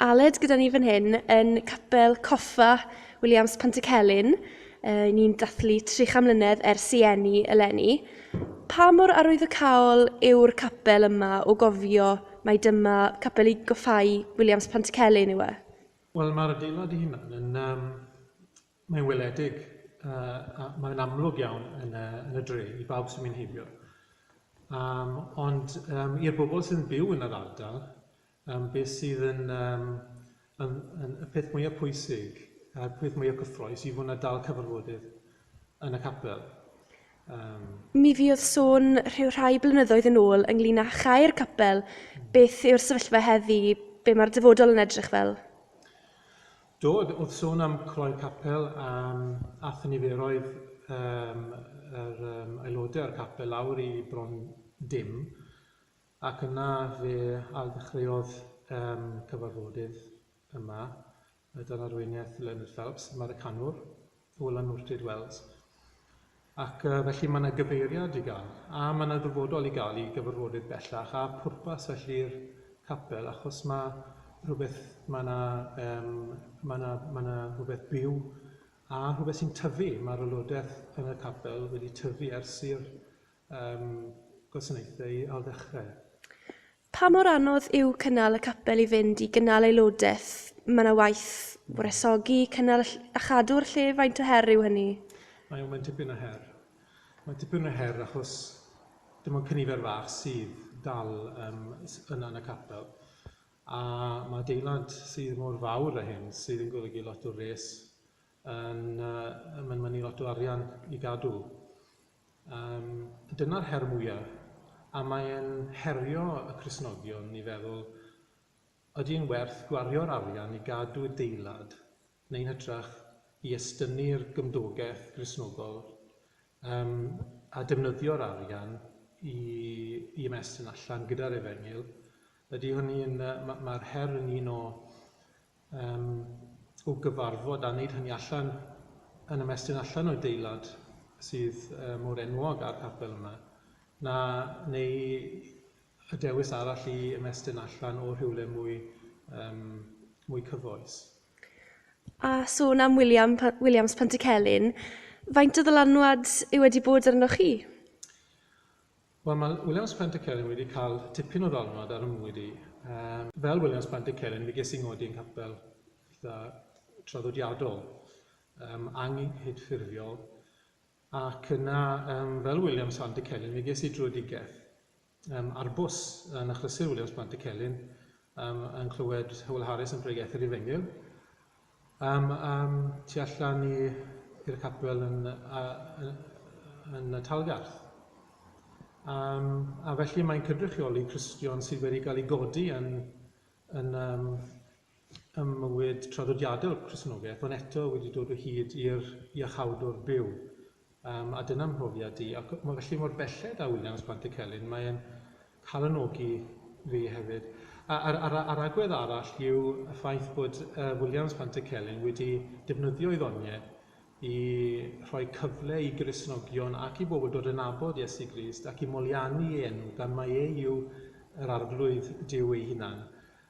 Aled gyda ni fan hyn yn Capel Coffa Williams Pantycelyn. Uh, ni'n dathlu 300 mlynedd ers i enni eleni. Pa mor arwyddocaol yw'r capel yma o gofio mae dyma capel i goffau Williams Pantycelyn yw e? Wel, mae'r adeilad i hunan yn... Um, mae'n weledig uh, a mae'n amlwg iawn yn y, yn y dre i bawb sy'n mynd heibio. Um, ond um, i'r bobl sy'n byw yn yr ardal, Yym, beth sydd yn yym yn yn y peth mwya pwysig a'r peth mwya cyffrous yw hwn a dal cyfarfodydd yn y capel. Yym. Mi fuodd sôn rhyw rhai blynyddoedd yn ôl ynglyn â chau'r capel. Beth yw'r sefyllfa heddi? Be mae'r dyfodol yn edrych fel? Do, oedd sôn am croi'r capel am ath niferoedd yym yr yym aelodau o'r capel lawr i bron dim. Ac yna fe ardechreuodd e'n cyfarfodydd yma, dan arweiniaeth Leonard Phelps, Americanwr o Lanwrtyd Wells. Ac felly mae yna gyfeiriad i gael, a mae yna ddyfodol i gael i gyfarfodydd bellach, a phwrpas felly'r capel, achos mae rhywbeth, mae yna, um, mae yna, mae yna rhywbeth byw, a rhywbeth sy'n tyfu, mae'r aelodaeth yn y capel wedi tyfu ers i'r Ym gwasanaethau al ddechrau. Pa mor anodd yw cynnal y capel i fynd i gynnal aelodaeth? Mae yna waith wresogi, cynnal a chadw'r lle, faint o her yw hynny? Mae o, mae'n dipyn o her. Mae'n dipyn o her achos dim ond cynifer fach sydd dal yym yna yn y capel a mae adeilad sydd mor fawr a hyn sydd yn golygu lot o wres Yn yy mae'n mynnu lot o arian i gadw. Yym dyna'r her mwya'. A mae e'n herio y Cristnogion i feddwl, ydi e'n werth gwario'r arian i gadw adeilad neu'n hytrach i estynnu'r gymdogeth Gristnogol yym a defnyddio'r arian i i ymestyn allan gyda'r efengyl? Ydi hynny'n yy ma' ma'r her yn un o Yym, o gyfarfod a neud hynny allan yn ymestyn allan o adeilad sydd yy mor enwog â'r capel yma, na neu y dewis arall i ymestyn allan o rhywle mwy yym mwy cyfoes. A sôn am William Pa- Williams Pantycelyn, faint o ddylanwad yw wedi bod arnoch chi? Wel, mae Williams Plant y Celyn wedi cael tipyn o ddiwrnod ar 'y mywyd i. Fel Williams Plant y Celyn, mi ges i 'ngodi yn capel eitha' traddodiadol, yym anghydffurfiol, ac yna yym fel Williams Plant y Celyn mi ges i drwedigaeth, yym ar bws yn achlysur Williams Plant y Celyn, yym yn clywed Hywel Harris yn pregethu ar ei fengyl, Am am tu allan i i'r capel yn a yn yn y Talgarth. Am a felly mae'n cydrychioli Cristion sydd wedi cael ei godi yn yn am ym mywyd traddodiadol Cristnogaeth ond eto wedi dod o hyd i'r iachawdwr byw. Yym, a dyna 'mhrofiad i. Ac ma' felly mor belled â Williams Pant y Celyn, mae e'n calonogi fi hefyd. A a'r a'r a'r agwedd arall yw y ffaith bod yy Williams Pant y Celyn wedi defnyddio ei ddoniau i rhoi cyfle i Gristnogion ac i bobl dod yn nabod Iesu Grist ac i molianu ei enw gan mai e yw yr Arglwydd Duw ei hunan.